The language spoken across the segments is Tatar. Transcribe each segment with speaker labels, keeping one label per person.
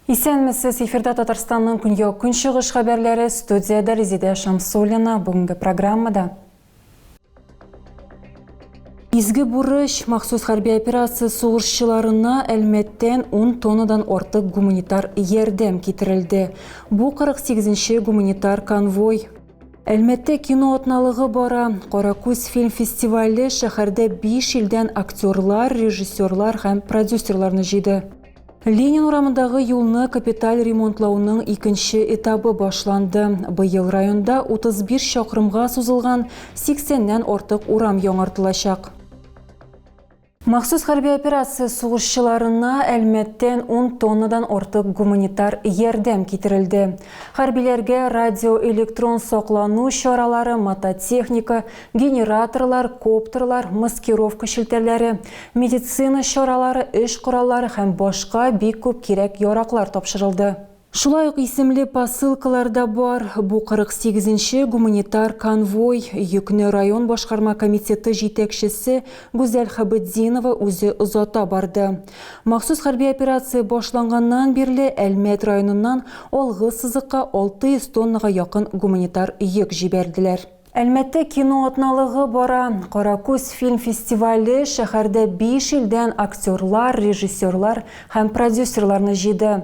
Speaker 1: Исәнмесез, эфирда Татарстанның көньяк көнчыгыш хәбәрләре, студиядә Резидә Шамсуллина. Бүгенге программада Изге бурыч, махсус хәрби операция сугышчыларына Әлмәттән 10 тоннадан артык гуманитар ярдәм китерелде. Бу 48-нче гуманитар конвой. Әлмәттә кино атналыгы бара. Каракүз фильм фестивале шәһәрдә 5 илдән актерлар, режиссерлар һәм продюсерларны җыйды. Ленин урамындагы юлны капиталь ремонтлауның икенче этабы башланды. Быел районда 31 чакрымга сузылган 80-нән артык урам яңартылачак. Махсус хәрби операция сугышчыларына Әлмәттән 10 тоннадан артык гуманитар ярдәм китерелде. Хәрбиләргә радиоэлектрон саклану чаралары, мототехника, Генераторлар, коптерлар, маскировка челтәрләре, медицина чаралары, эш кораллары һәм башка бик күп кирәк яраклар тапшырылды. Шулай ук исемле посылкалар да бар. Бу 48 нче гуманитар конвой. Йөкне район башкарма комитеты җитәкчесе Гүзәл Хабетдинова үзе озата барды. Махсус хәрби операция башланганнан бирле Әлмәт районыннан алгы сызыкка 600 тоннага якын гуманитар йөк җибәрделәр. Әлмәттә кино атналыгы бара. Каракүз фильм фестивале шәһәрдә биш илдән актерлар, режиссерлар һәм продюсерларны җыйды.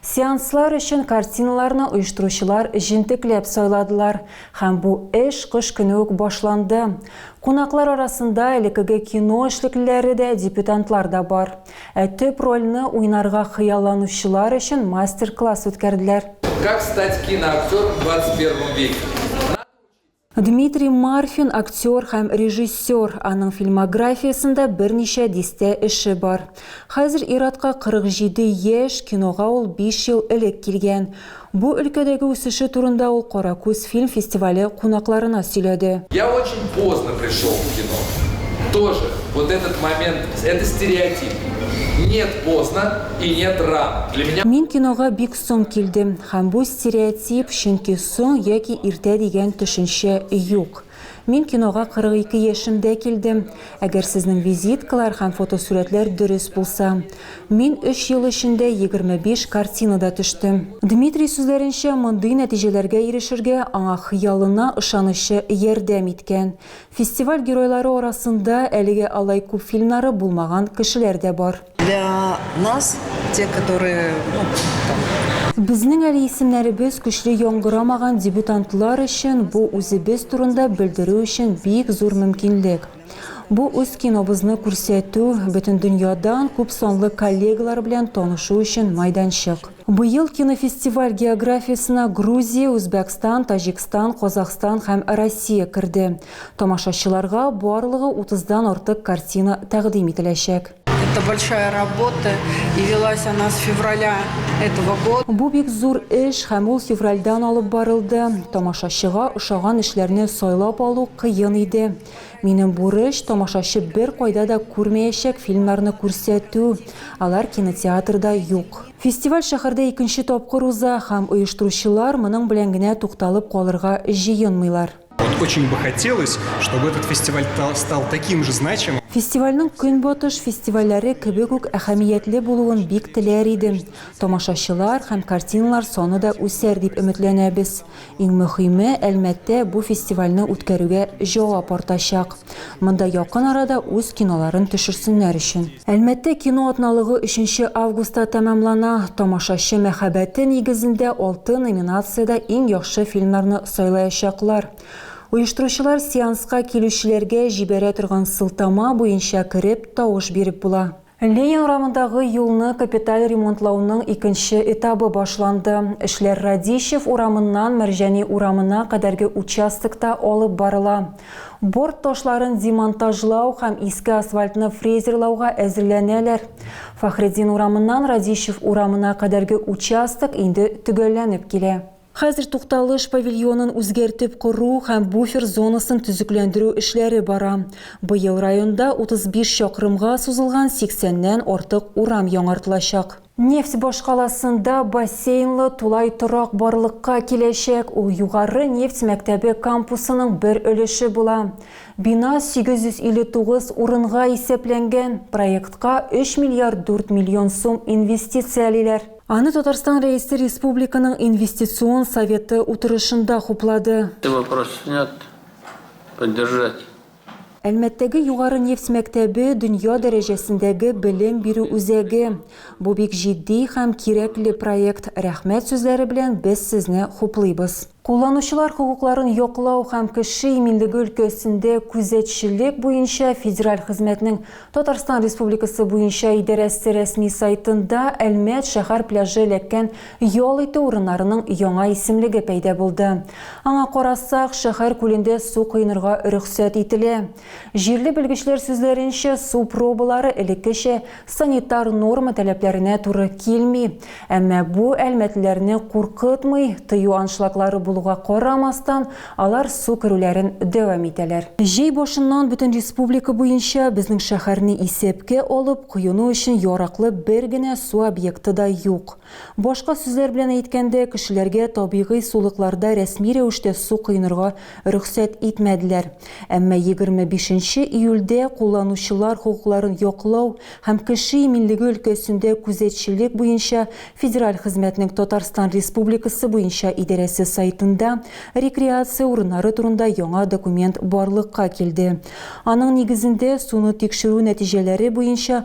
Speaker 1: Сеанслар өчен картиналарны оештыручылар җентекләп сайладылар һәм бу эш кыш көне үк башланды. Кунаклар арасында элеккеге кино эшлеклеләре дә, дебютантлар да бар. Ә төп рольне уйнарга хыялланучылар өчен мастер-класс үткәрделәр. Как стать
Speaker 2: киноактер в двадцать первом веке?
Speaker 1: Дмитрий Марфин, актер һәм режиссер. Аның фильмографиясендә берничә дистә эше бар. Хәзер ир-атка 47 яшь, кинога ул биш ел элек килгән. Бу өлкәдәге үсеше турында ул Кара күз фильм фестивале кунакларына сөйләде. Я очень поздно
Speaker 2: пришел в кино. Тоже вот этот момент, это стереотип. Нет поздно и нет рано. Для меня. Мин кинога бик соң
Speaker 1: килдем. Һәм бу стереотип, чөнки соң яки иртә дигән төшенчә юк. Мин кинога 42 яшемдә килдем, әгәр сезнең визиткалар һәм фотосурәтләр дөрес булса. Мин өч ел эчендә 25 картинада төштем. Дмитрий сүзләренчә, мондый нәтиҗәләргә ирешергә аңа хыялына ышанычы ярдәм иткән. Фестиваль геройлары арасында әлегә алай күп фильмнары булмаган кешеләр дә бар. Для нас,
Speaker 3: те, которые, ну, там,
Speaker 1: Безнең әле исемнәребез көчле яңгырамаган дебютантлар өчен бу үзебез турында белдерү өчен бик зур мөмкинлек. Бу үз кинобызны күрсәтү, бөтен дөньядан күп санлы коллегалар белән танышу өчен майданчык. Быел кинофестиваль географиясенә Грузия, Үзбәкстан, Таҗикстан, Казахстан һәм Россия керде. Тамашачыларга барлыгы 30 дан артык картина тәкъдим ителәчәк.
Speaker 3: Бу бик зур
Speaker 1: эш һәм ул февральдән алып барылды. Тамашачыга ошаган эшләрне сайлап алу кыен иде. Минем бурыч, тамашачы беркайда да күрмәячәк фильмнарны күрсәтү. Алар кинотеатрда юк. Фестиваль шәһәрдә икенче тапкыр уза һәм оештыручылар моның белән генә тукталып калырга җыенмыйлар. Вот очень бы
Speaker 4: хотелось, чтобы этот фестиваль стал таким же значимым. Фестивальнең көнбатыш
Speaker 1: фестивальләре кебек үк әһәмиятле булуын бик теләр идем. Тамашачылар һәм картиналар саны да үсәр дип өметләнәбез. Иң мөһиме, Әлмәттә бу фестивальне үткәрүгә җавап артачак. Монда якын арада үз киноларын төшерсеннәр өчен. Әлмәттә кино атналыгы өченче августта тәмамлана. Тамашачы мәхәббәте нигезендә алты номинациядә иң яхшы фильмнарны сайлаячаклар. Оештыручылар сеанска килүчеләргә җибәрә торган сылтама буенча кереп, тавыш биреп була. Ленин урамындагы юлны капиталь ремонтлауның икенче этабы башланды. Эшләр Радищев урамыннан Мәрҗани урамына кадәрге участокта алып барыла. Борт ташларын демонтажлау һәм иске асфальтны фрезерлауга әзерләнәләр. Фәхретдин урамыннан Радищев урамына кадәрге участок инде төгәлләнеп килә. Хәзер тукталыш павильонын үзгәртеп кору һәм буфер зонасын төзекләндерү эшләре бара. Быел районда 35 чакрымга сузылган 80 ннән артык урам яңартылачак. Нефть башкаласында бассейнлы тулай торак барлыкка киләчәк, ул Югары нефть мәктәбе кампусының бер өлеше була. Бина 859 урынга исәпләнгән, проектка 3 миллиард 4 миллион сум инвестициялиләр. Аны Татарстан Рәисе республиканың Инвестицион советы утырышында хуплады. Все вопросы снят.
Speaker 5: Поддержать.
Speaker 1: Әлмәттәге югары нефть мәктәбе, дөнья дәрәҗәсендәге белем бирү үзәге. Бу бик җитди һәм кирәкле проект. Рәхмәт сүзләре белән без сезне хуплыйбыз. Кулланучылар хокукларын яклау һәм кеше иминлеге өлкәсендә күзәтчелек буенча федераль хезмәтнең Татарстан Республикасы буенча идарәсе рәсми сайтында Әлмәт шәһәр пляжы эләккән ял итү урыннарының яңа исемлеге пәйда булды. Аңа карасак, шәһәр күлендә су коенырга рөхсәт ителә. Җирле белгечләр сүзләренчә, су пробалары элеккечә санитар норма таләпләренә туры килми. Әмма бу әлмәтлеләрне куркытмый, тыю аншлаглары булуга карамастан, алар су керүләрен дәвам итәләр. Җәй башыннан бөтен республика буенча безнең шәһәрне исәпкә алып, коену өчен яраклы бер генә су объекты да юк. Башка сүзләр белән әйткәндә, кешеләргә табигый сулыкларда рәсми рәвештә су коенырга рөхсәт итмәделәр. Әмма егерме бишенче июльдә кулланучылар хокукларын яклау һәм кеше иминлеге өлкәсендә күзәтчелек буенча федераль хезмәтнең Татарстан Республикасы буенча идарәсе сайтында рекреация урыннары турында яңа документ барлыкка килде. Аның нигезендә суны тикшерү нәтиҗәләре буенча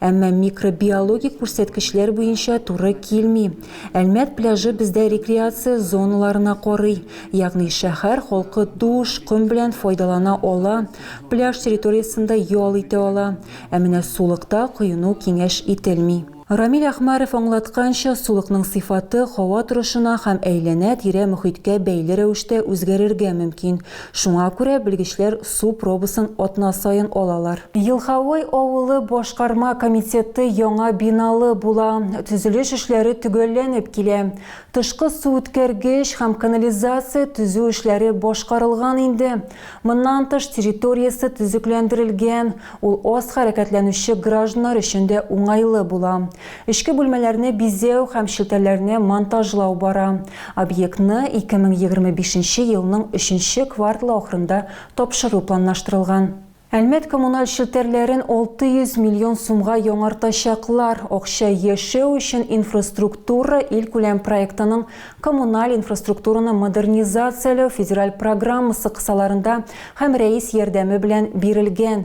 Speaker 1: Әмма микробиологик күрсәткечләр буенча туры килми. Әлмәт пляжы бездә рекреация зоналарына карый, ягъни шәһәр халкы душ, ком белән файдалана ала, пляж территориясендә ял итә ала, ә менә сулыкта коену киңәш ителми. Рамил Әхмәров аңлатканча, сулыкның сыйфаты һава торышына һәм әйләнә-тирә мохиткә бәйле рәвештә үзгәрергә мөмкин. Шуңа күрә белгечләр су пробасын атна саен алалар. Елховой авылы башкарма комитеты яңа биналы була, төзелеш эшләре төгәлләнеп килә. Тышкы суүткәргеч һәм канализация төзү эшләре башкарылган инде. Моннан тыш территориясе төзекләндерелгән, ул аз хәрәкәтләнүче гражданнар өчен дә уңайлы була. Эчке бүлмәләрне бизәү һәм челтәрләрне монтажлау бара. Объектны 2025 нче елның өченче кварталы ахырында тапшыру планлаштырылган. Әлмәт коммуналь челтәрләрен 600 миллион сумга яңартачаклар. Акча Яшәү өчен инфраструктура илкүләм проектының Коммуналь инфраструктураны модернизацияләү федераль программасы кысаларында һәм рәис ярдәме белән бирелгән.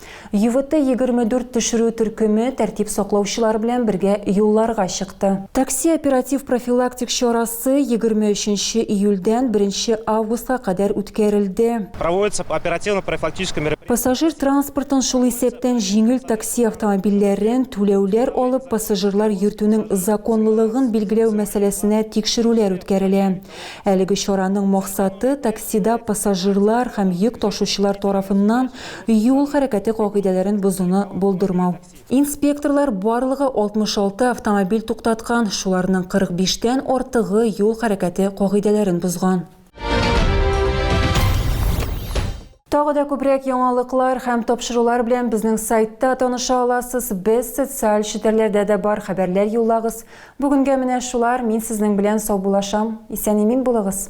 Speaker 1: Ювете 24 төшерү төркеме тәртип саклаучылар белән бергә юлларга чыкты. Такси оператив-профилактик чарасы 23 нче июльдән 1 нче августка кадәр үткәрелде. Проводятся
Speaker 6: оперативно-профилактические мероприятия. Пассажир транспортын,
Speaker 1: шул исәптән җиңел такси автомобильләрен, түләүләр алып, пассажирлар йөртүнең законлылыгын билгеләү мәсьәләсенә тикшерүләр үткәрелә. Әлеге чараның максаты, таксида пассажирлар һәм йөк ташучылар тарафыннан юл хәрәкәте кагыйдәләрен бозуны булдырмау. Инспекторлар барлыгы 66 автомобиль туктаткан, шуларның 45 тән артыгы юл хәрәкәте кагыйдәләрен бозган. Тагы да күбрәк яңалыклар һәм тапшырулар белән безнең сайтта таныша аласыз. Без социаль челтәрләрдә дә бар, хәбәрләр юллагыз. Бүгенгә менә шулар, мин сезнең белән саубуллашам. Исән-имин булыгыз!